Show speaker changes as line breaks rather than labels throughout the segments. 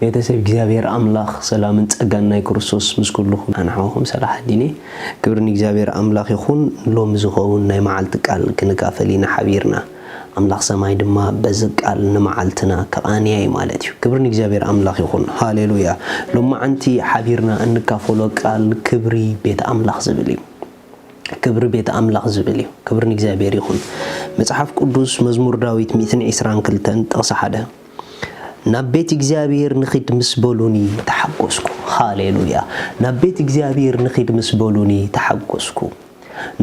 ቤተሰብ እግዚኣብሔር ኣምላኽ ሰላምን ጸጋን ናይ ክርስቶስ ምስ ኩሉኹም ይኹን ንዓኹም ሰላሓዲነ ክብሪ ንእግዚኣብሔር ኣምላኽ ይኹን ሎሚ ዝኸውን ናይ መዓልቲ ቃል ክንካፈል ኢና ሓቢርና ኣምላኽ ሰማይ ድማ በዚ ቃል ንመዓልትና ክቓንያ እዩ ማለት እዩ ክብሪ ንእግዚኣብሔር ኣምላኽ ይኹን ሃሌሉያ ሎማዓንቲ ሓቢርና እንካፈሎ ቃል ክብሪ ቤት ኣምላኽ ዝብል እዩ ክብሪ ቤት ኣምላኽ ዝብል እዩ ክብሪ ንእግዚኣብሔር ይኹን መጽሓፍ ቅዱስ መዝሙር ዳዊት ሚእትን ዒስራን ክልተን ጥቕሲ ሓደ ናብ ቤት እግዚኣብሄር ንኺድ ምስ በሉኒ ተሓጐስኩ። ሃሌ ሉያ! ናብ ቤት እግዚኣብሄር ንኺድ ምስ በሉኒ ተሓጐስኩ።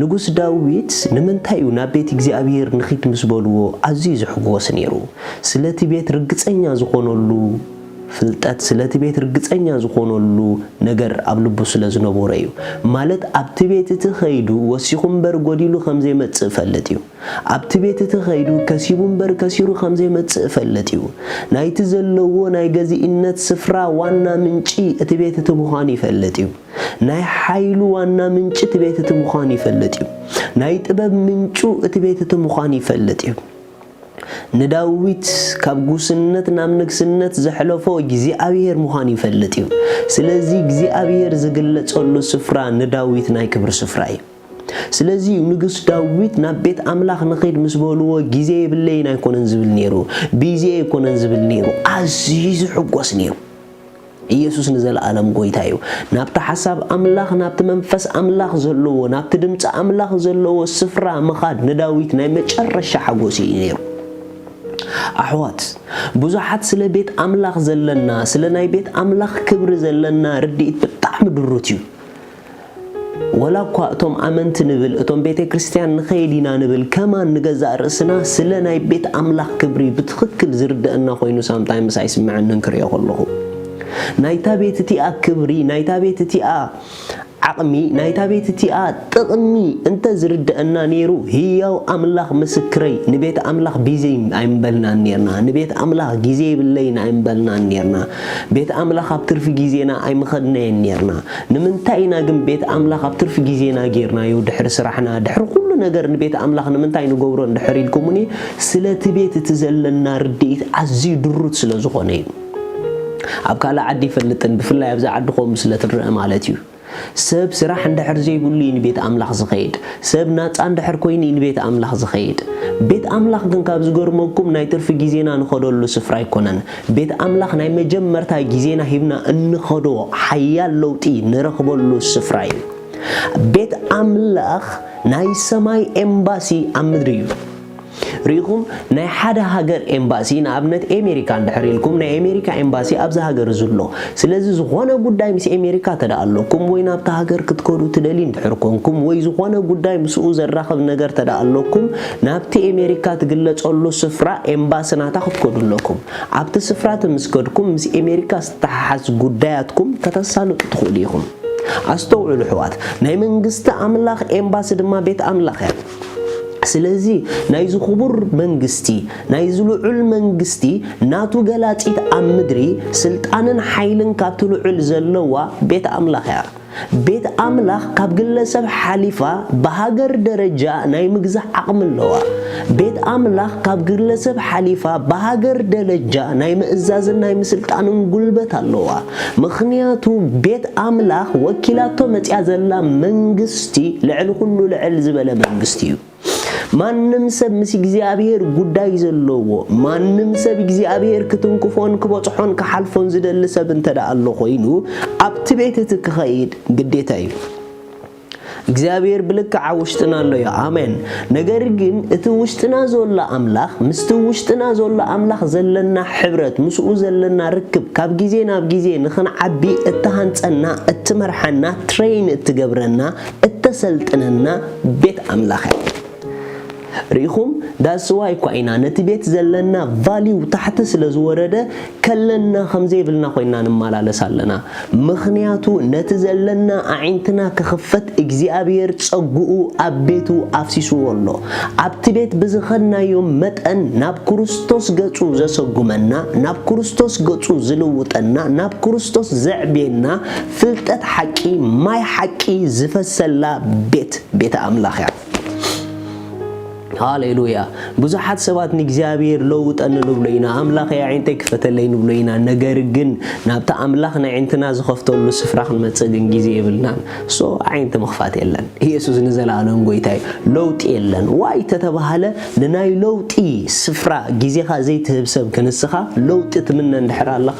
ንጉስ ዳዊት ንምንታይ እዩ ናብ ቤት እግዚኣብሄር ንኺድ ምስ በልዎ ኣዝዩ ዝሕጐስ ነይሩ? ስለቲ ቤት ርግጸኛ ዝዀነሉ ፍልጠት፣ ስለቲ ቤት ርግጸኛ ዝዀነሉ ነገር ኣብ ልቡ ስለ ዝነበሮ እዩ። ማለት ኣብቲ ቤት እቲ ኸይዱ ወሲኹ እምበር ጐዲሉ ከም ዘይመጽእ እፈልጥ እዩ። ኣብቲ ቤት እቲ ከይዱ ከሲቡ እምበር ከሲሩ ከም ዘይመጽእ እፈልጥ እዩ። ናይቲ ዘለዎ ናይ ገዚእነት ስፍራ ዋና ምንጪ እቲ ቤት እቲ ምዃኑ ይፈልጥ እዩ። ናይ ሓይሉ ዋና ምንጪ እቲ ቤት እቲ ምዃኑ ይፈልጥ እዩ። ናይ ጥበብ ምንጩ እቲ ቤት እቲ ምዃኑ ይፈልጥ እዩ። ንዳዊት ካብ ጉስነት ናብ ንግስነት ዘሕለፎ እግዚኣብሄር ምዃኑ ይፈልጥ እዩ። ስለዚ እግዚኣብሄር ዝግለጸሉ ስፍራ ንዳዊት ናይ ክብሪ ስፍራ እዩ። ስለዚ'ዩ ንጉስ ዳዊት ናብ ቤት ኣምላኽ ንኺድ ምስ በልዎ ግዜ የብለይን ኣይኮነን ዝብል ነይሩ፣ ብይዜ'የ ኣይኮነን ዝብል ነይሩ፣ ኣዝዩ ዝሕጎስ ነይሩ። ኢየሱስ ንዘለኣለም ጎይታ እዩ። ናብቲ ሓሳብ ኣምላኽ፣ ናብቲ መንፈስ ኣምላኽ ዘለዎ፣ ናብቲ ድምጺ ኣምላኽ ዘለዎ ስፍራ ምኻድ ንዳዊት ናይ መጨረሻ ሓጎስ እዩ ነይሩ። ኣሕዋት ብዙሓት ስለ ቤት ኣምላኽ ዘለና ስለ ናይ ቤት ኣምላኽ ክብሪ ዘለና ርድኢት ብጣዕሚ ድሩት እዩ። ወላ እኳ እቶም ኣመንቲ ንብል እቶም ቤተ ክርስቲያን ንኸይድ ኢና ንብል ከማን ንገዛእ ርእስና ስለ ናይ ቤት ኣምላኽ ክብሪ ብትኽክል ዝርደኣና ኮይኑ ሳምታይምስ ኣይስመዐንን ክርእዮ ከለኹ ናይታ ቤት እቲኣ ክብሪ ናይታ ቤት እቲኣ ዓቕሚ ናይታ ቤት እቲኣ ጥቕሚ እንተ ዝርደኣና ነይሩ ህያው ኣምላኽ ምስክረይ ንቤት ኣምላኽ ቢዘይ ኣይምበልናን ነርና ንቤት ኣምላኽ ግዜ ይብለይን ኣይምበልናን ነርና ቤት ኣምላኽ ኣብ ትርፊ ግዜና ኣይምኸድናየን ነርና ንምንታይ ኢና ግን ቤት ኣምላኽ ኣብ ትርፊ ግዜና ጌርናዮ ድሕሪ ስራሕና ድሕሪ ኩሉ ነገር ንቤት ኣምላኽ ንምንታይ ንገብሮ እንድሕር ኢልኩሙኒ ስለ እቲ ቤት እቲ ዘለና ርድኢት ኣዝዩ ድሩት ስለ ዝኾነ እዩ ኣብ ካልእ ዓዲ ይፈልጥን ብፍላይ ኣብዚ ዓዲ ኮም ስለ ትረአ ማለት እዩ ሰብ ስራሕ እንድሕር ዘይብሉ እዩ ንቤት ኣምላኽ ዝኸይድ ሰብ ናጻ እንድሕር ኮይኑ እዩ ንቤት ኣምላኽ ዝኸይድ ቤት ኣምላኽ ግን ካብ ዝገርመኩም ናይ ትርፊ ግዜና ንኸደሉ ስፍራ ኣይኮነን ቤት ኣምላኽ ናይ መጀመርታ ጊዜና ሂብና እንኸዶ ሓያል ለውጢ ንረኽበሉ ስፍራ እዩ። ቤት ኣምላኽ ናይ ሰማይ ኤምባሲ ኣብ ምድሪ እዩ። ርኢኹም ናይ ሓደ ሃገር ኤምባሲ ንኣብነት ኤሜሪካ እንድሕር ኢልኩም ናይ ኤሜሪካ ኤምባሲ ኣብዚ ሃገር እዚ ኣሎ። ስለዚ ዝኾነ ጉዳይ ምስ ኤሜሪካ ተደኣ ኣለኩም ወይ ናብቲ ሃገር ክትከዱ ትደልዩ እንድሕር ኮንኩም ወይ ዝኾነ ጉዳይ ምስኡ ዘራኽብ ነገር ተደኣ ኣለኩም ናብቲ ኤሜሪካ ትግለጸሉ ስፍራ ኤምባሲ ናታ ክትከዱ ኣለኩም። ኣብቲ ስፍራ እቲ ምስ ከድኩም ምስ ኤሜሪካ ዝተሓሓዝ ጉዳያትኩም ከተሳልጡ ትኽእሉ ኢኹም። ኣስተውዕሉ ኣሕዋት፣ ናይ መንግስቲ ኣምላኽ ኤምባሲ ድማ ቤት ኣምላኽ እያ። ስለዚ ናይዚ ክቡር መንግስቲ ናይዚ ልዑል መንግስቲ ናቱ ገላጺት ኣብ ምድሪ ስልጣንን ሓይልን ካብቲ ልዑል ዘለዋ ቤት ኣምላኽ እያ። ቤት ኣምላኽ ካብ ግለሰብ ሓሊፋ ብሃገር ደረጃ ናይ ምግዛእ ዓቕሚ ኣለዋ። ቤት ኣምላኽ ካብ ግለሰብ ሓሊፋ ብሃገር ደለጃ ናይ ምእዛዝን ናይ ምስልጣንን ጉልበት ኣለዋ። ምኽንያቱ ቤት ኣምላኽ ወኪላቶ መጺኣ ዘላ መንግስቲ ልዕሊ ኩሉ ልዕል ዝበለ መንግስቲ እዩ። ማንም ሰብ ምስ እግዚኣብሔር ጉዳይ ዘለዎ ማንም ሰብ እግዚኣብሔር ክትንክፎን ክበጽሖን ክሓልፎን ዝደሊ ሰብ እንተ ደኣ ኣሎ ኮይኑ ኣብቲ ቤት እቲ ክኸይድ ግዴታ እዩ። እግዚኣብሔር ብልክዓ ውሽጥና ኣሎ እዩ ኣሜን። ነገር ግን እቲ ውሽጥና ዘሎ ኣምላኽ ምስቲ ውሽጥና ዘሎ ኣምላኽ ዘለና ሕብረት ምስኡ ዘለና ርክብ ካብ ግዜ ናብ ግዜ ንኽንዓቢ እትሃንጸና እትመርሓና ትሬይን እትገብረና እተሰልጥነና ቤት ኣምላኽ እያ። ርኢኹም ዳትስ ዋይ እኳ ኢና ነቲ ቤት ዘለና ቫልዩ ታሕቲ ስለ ዝወረደ ከለና ከም ዘይብልና ኮይና ንመላለስ ኣለና። ምኽንያቱ ነቲ ዘለና ኣዒንትና ክኽፈት እግዚኣብሄር ጸግኡ ኣብ ቤቱ ኣፍሲስዎ ኣሎ። ኣብቲ ቤት ብዝኸድናዮ መጠን ናብ ክርስቶስ ገጹ ዘሰጉመና፣ ናብ ክርስቶስ ገጹ ዝልውጠና፣ ናብ ክርስቶስ ዘዕብየና ፍልጠት ሓቂ ማይ ሓቂ ዝፈሰላ ቤት ቤተ ኣምላኽ እያ። ሃሌሉያ ብዙሓት ሰባት ንእግዚኣብሔር ለውጠኒ ንብሎ ኢና፣ ኣምላኽ የዒንተይ ክፈተለይ ንብሎ ኢና፣ ነገር ግን ናብቲ ኣምላኽ ነዒንትና ዝኸፍተሉ ስፍራ ክንመጽእ ግን ግዜ የብልናን። ሶ ኣዒንቲ ምኽፋት የለን። ኢየሱስ ንዘለኣለም ጎይታ እዩ። ለውጢ የለን ዋይ ተተባህለ ንናይ ለውጢ ስፍራ ግዜኻ ዘይትህብ ሰብ ክንስኻ ለውጢ ትምነ እንድሕር ኣለኻ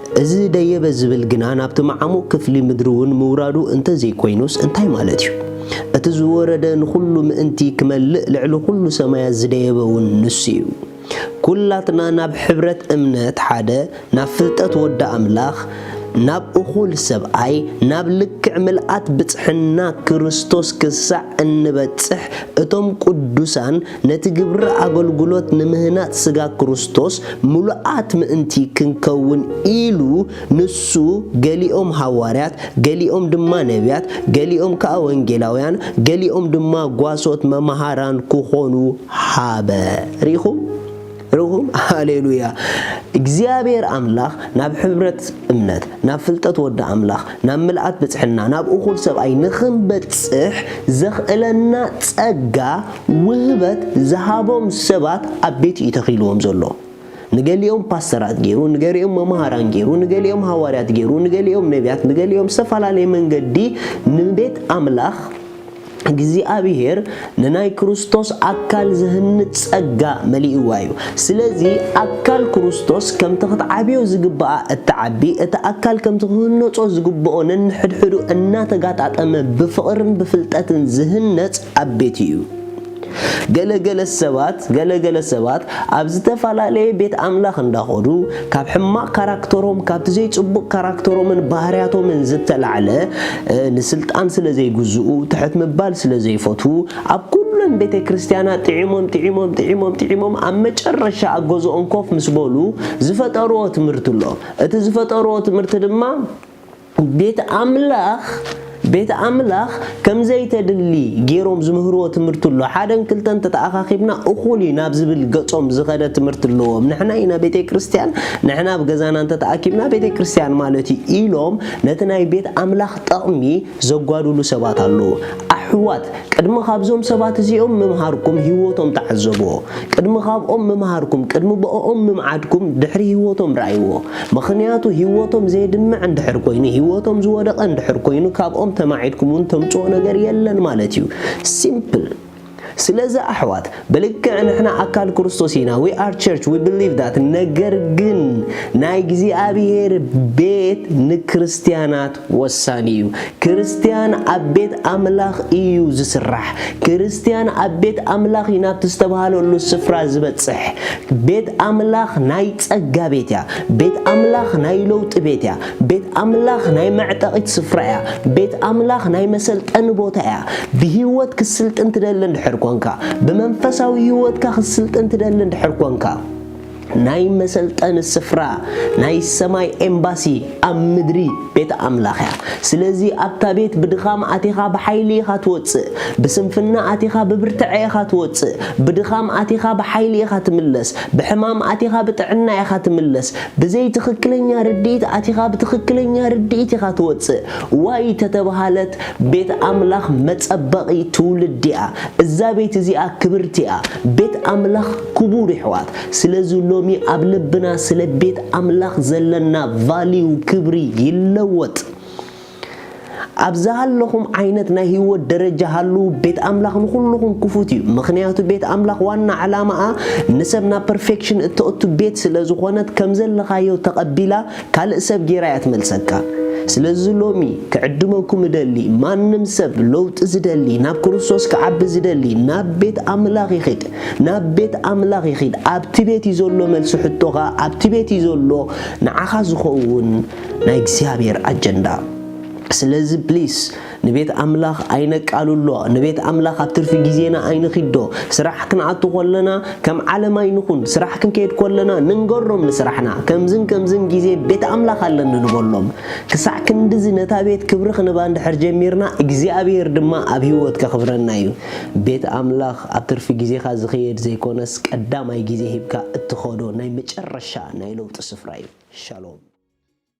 እዚ ደየበ ዝብል ግና ናብቲ መዓሙቕ ክፍሊ ምድሪ እውን ምውራዱ እንተ ዘይኮይኑስ እንታይ ማለት እዩ? እቲ ዝወረደ ንኹሉ ምእንቲ ክመልእ ልዕሊ ኩሉ ሰማያት ዝደየበ እውን ንሱ እዩ። ኩላትና ናብ ሕብረት እምነት ሓደ፣ ናብ ፍልጠት ወዲ ኣምላኽ፣ ናብ እኹል ሰብኣይ፣ ናብ ልክዕ ምልኣት ብጽሕና ክርስቶስ ክሳዕ እንበጽሕ እቶም ቅዱሳን ነቲ ግብሪ ኣገልግሎት ንምህናጽ ስጋ ክርስቶስ ምሉኣት ምእንቲ ክንከውን ኢሉ ንሱ ገሊኦም ሃዋርያት ገሊኦም ድማ ነብያት ገሊኦም ከኣ ወንጌላውያን ገሊኦም ድማ ጓሶት መማሃራን ክኾኑ ሃበ። ርኢኹም? ርኹም ሃሌሉያ እግዚኣብሔር ኣምላኽ ናብ ሕብረት እምነት ናብ ፍልጠት ወዲ ኣምላኽ ናብ ምልኣት ብጽሕና ናብ እኹል ሰብኣይ ንኽንበጽሕ ዘኽእለና ጸጋ ውህበት ዝሃቦም ሰባት ኣብ ቤቱ እዩ ተኺልዎም ዘሎ ንገሊኦም ፓስተራት ገይሩ ንገሊኦም መምሃራን ገይሩ ንገሊኦም ሃዋርያት ገይሩ ንገሊኦም ነቢያት ንገሊኦም ዝተፈላለየ መንገዲ ንቤት ኣምላኽ እግዚኣብሔር ንናይ ክርስቶስ ኣካል ዝህንጽ ጸጋ መሊእዋ እዩ። ስለዚ ኣካል ክርስቶስ ከምቲ ክትዓብዮ ዝግብኣ እትዓቢ፣ እቲ ኣካል ከምቲ ክህነጾ ዝግብኦ ነንሕድሕዱ እናተጋጣጠመ ብፍቕርን ብፍልጠትን ዝህነጽ ኣብ ቤቱ እዩ። ገለ ገለ ሰባት ገለ ገለ ሰባት ኣብ ዝተፋላለየ ቤት ኣምላኽ እንዳኾዱ ካብ ሕማቅ ካራክተሮም ካብቲ ዘይጽቡቅ ካራክተሮምን ባህርያቶምን ዝተላዕለ ንስልጣን ስለ ዘይግዝኡ ትሕት ምባል ስለ ዘይፈትዉ ኣብ ኩለን ቤተ ክርስትያና ጢዒሞም ጢዒሞም ጢዒሞም ጢዒሞም ኣብ መጨረሻ ኣብ ገዝኦም ኮፍ ምስ በሉ ዝፈጠርዎ ትምህርቲ ኣሎ እቲ ዝፈጠርዎ ትምህርቲ ድማ ቤት ኣምላኽ ቤት ኣምላኽ ከም ዘይተድሊ ጌሮም ዝምህርዎ ትምህርቲ ኣሎ ሓደን ክልተን ተተኣኻኺብና እኹል እዩ ናብ ዝብል ገጾም ዝኸደ ትምህርቲ ኣለዎም ንሕና ኢና ቤተ ክርስቲያን ንሕና ኣብ ገዛና እንተተኣኪብና ቤተ ክርስቲያን ማለት እዩ ኢሎም ነቲ ናይ ቤት ኣምላኽ ጠቕሚ ዘጓድሉ ሰባት ኣለዉ ኣሕዋት ቅድሚ ኻብዞም ሰባት እዚኦም ምምሃርኩም ህይወቶም ተዓዘብዎ። ቅድሚ ኻብኦም ምምሃርኩም፣ ቅድሚ ብእኦም ምምዓድኩም ድሕሪ ህይወቶም ርኣይዎ። ምኽንያቱ ህይወቶም ዜድምዕ እንድሕር ኮይኑ፣ ህይወቶም ዝወደቐ እንድሕር ኮይኑ ካብኦም ተማዒድኩምውን ተምጽኦ ነገር የለን ማለት እዩ። Simple። ስለዚ ኣሕዋት፣ ብልክዕ ንሕና ኣካል ክርስቶስ ኢና we are church we believe that ነገር ግን ናይ እግዚኣብሔር ቤት ንክርስትያናት ወሳኒ እዩ ክርስትያን ኣብ ቤት ኣምላኽ እዩ ዝስራሕ ክርስትያን ኣብ ቤት ኣምላኽ እዩ ናብቲ ዝተባሃለሉ ስፍራ ዝበጽሕ ቤት ኣምላኽ ናይ ጸጋ ቤት እያ ቤት ኣምላኽ ናይ ለውጢ ቤት እያ ቤት ኣምላኽ ናይ መዕጠቒት ስፍራ እያ። ቤት ኣምላኽ ናይ መሰልጠኒ ቦታ እያ። ብህይወት ክትስልጥን ትደሊ እንድሕር ኰንካ፣ ብመንፈሳዊ ህይወትካ ክትስልጥን ትደሊ እንድሕር ኰንካ፣ ናይ መሰልጠኒ ስፍራ ናይ ሰማይ ኤምባሲ ኣብ ምድሪ ቤት ኣምላኽ እያ። ስለዚ ኣብታ ቤት ብድኻም ኣቲኻ ብሓይሊ ኢኻ ትወጽእ፣ ብስንፍና ኣቲኻ ብብርትዐ ኢኻ ትወጽእ፣ ብድኻም ኣቲኻ ብሓይሊ ኢኻ ትምለስ፣ ብሕማም ኣቲኻ ብጥዕና ኢኻ ትምለስ፣ ብዘይ ትኽክለኛ ርድኢት ኣቲኻ ብትኽክለኛ ርድኢት ኢኻ ትወጽእ። ዋይ ተተብሃለት ቤት ኣምላኽ መጸበቒ ትውልዲ እያ። እዛ ቤት እዚኣ ክብርቲ እያ። ቤት ኣምላኽ ክቡር ይሕዋት። ስለዚ ሎሚ ኣብ ልብና ስለ ቤት ኣምላኽ ዘለና ቫሊዩ ክብሪ ይለወጥ። ኣብ ዝሃለኹም ዓይነት ናይ ህይወት ደረጃ ሃልዉ፣ ቤት ኣምላኽ ንኹልኹም ክፉት እዩ። ምኽንያቱ ቤት ኣምላኽ ዋና ዕላማኣ ንሰብ ናብ ፐርፌክሽን እተእቱ ቤት ስለ ዝኾነት ከም ዘለኻዮ ተቐቢላ ካልእ ሰብ ጌራ እያ ትመልሰካ። ስለዚ ሎሚ ክዕድመኩም እደሊ ማንም ሰብ ለውጢ ዝደሊ ናብ ክርስቶስ ክዓቢ ዝደሊ ናብ ቤት ኣምላኽ ይኺድ ናብ ቤት ኣምላኽ ይኺድ ኣብቲ ቤት እዩ ዘሎ መልሲ ሕቶኻ ኣብቲ ቤት እዩ ዘሎ ንዓኻ ዝኸውን ናይ እግዚኣብሔር ኣጀንዳ ስለዚ ፕሊስ ንቤት ኣምላኽ ኣይነቃልሎ ንቤት ኣምላኽ ኣብ ትርፊ ግዜና ኣይንኺዶ ስራሕ ክንኣቱ ኮለና ከም ዓለም ኣይንኹን ስራሕ ክንከይድ ኮለና ንንገሮም ንስራሕና ከምዝን ከምዝን ግዜ ቤት ኣምላኽ ኣለኒ ንበሎም ክሳዕ ክንድዚ ነታ ቤት ክብሪ ክንባ እንድሕር ጀሚርና እግዚኣብሔር ድማ ኣብ ህይወት ከኽብረና እዩ ቤት ኣምላኽ ኣብ ትርፊ ግዜኻ ዝኽየድ ዘይኮነስ ቀዳማይ ግዜ ሂብካ እትኸዶ ናይ መጨረሻ ናይ ለውጢ ስፍራ እዩ ሻሎም